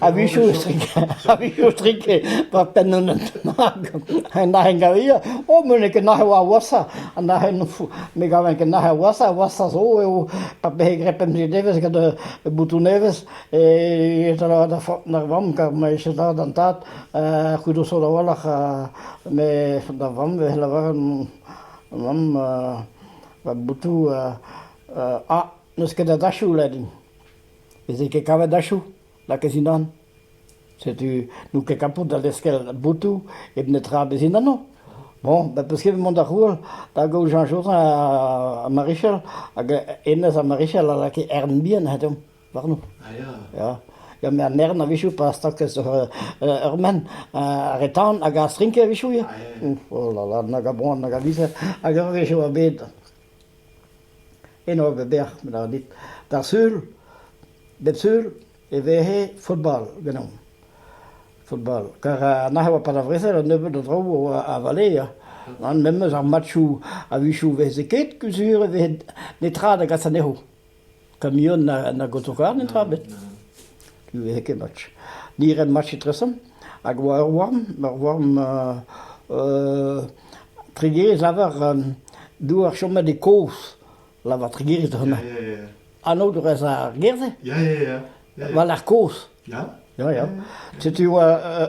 avisiustrik avisiustrik partananat en ahen gavia o mene ke nahe wa wasa an ahen fu me gaven ke nahe wasa wasa zo eo pa be grepem si deves gad butuneves e tala da fo nar vam ka me se da dan tat kudo so da walach me da vam ve la varan vam butu a neus ket da dachu ledin Veze ket kavet achoù lakaet dindan. Setu n'out ket kapout da lec'hel boutoù hep netra bez dindan ho. Bon, ben 'peus ket bet mont da c'houel da gaout Jean Josin ha Marichal hag hennezh ha Marichal a lakae ern bihan deomp warno. A ya. Ya, ya met an ern a-wechoù pa stagas ur menn ar re tan hag ar strinke a-wechoù ya. Oh là là, nag a boan nag a vizer hag ur wech e oa bet Eno e vez bec'h, lâret dit. D'ar sul, bep sul e vehe football ganeomp. Football. Kar nac'h e oa pal ar vrezel un nebeud a draoù a oa a valeer. Memes ar matchoù a-wechoù 'veze ket, kusur e veze netra da gas anezho. Kamion nag autokar netra ebet. Ne veze ket match. Ni 'ren match etresamm hag e oa ur worm. Ur worm Tregerez lavar doa ar chomet e kozh. Lavar Tregerez da hemañ. Anaoudegezh ar gêr-se war-lerc'h kozh. Ya, ya. Setu e oa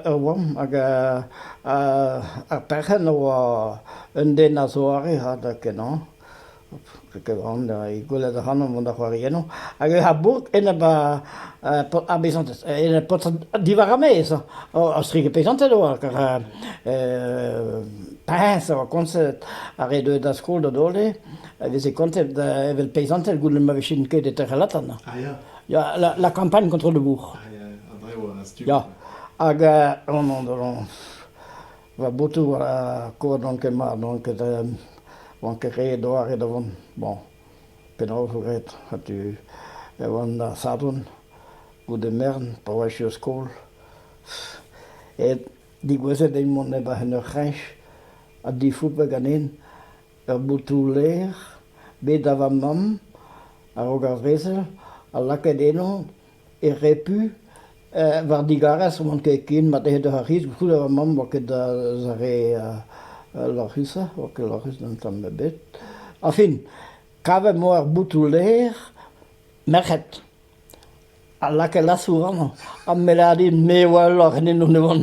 ur worm hag ar perc'henn a oa un den a zoare ha da kenañ. Ket aon e gweled ac'hanomp mont da c'hoari ennañ hag ar bourk enep ar beizanted, enep paotred diwar ar maez. Ostrik e peizanted oa, kar priñs a oa kontet ha re deuet da skol da dole a veze kontet evel peizanted goude ma vijent ket e tec'h Latan. Ah ya? Ya, la kampagn kontrol de bourc'h. Ah ya, a-dreñv an stumm. Ya, hag on... Va boutou war ar koad n'on ket mat, n'on ket euh, oan ket re doare da vont. Bon, penaos 'vo graet? Ha tu e oan da Sadorn goude mern pa oa echu o skol. Et digouezet eo mont neb en ur c'hreñch ha difoupañ ganin ur boutou lêr bet da va mamm a-raok ar brezel ha lakaet eno e repu. war digarez oan ket ken mat aet d'ar c'hiz. Koulskoude va mamm oa ket eus ar re lorc'hus-se, oa ket lorc'hus d'un tamm ebet. Añfin, kavet emañ ar boutoù lêr merc'hed a lakae lasour amañ. Ha me lâr din me oa ul lorc'henennoù ne oan.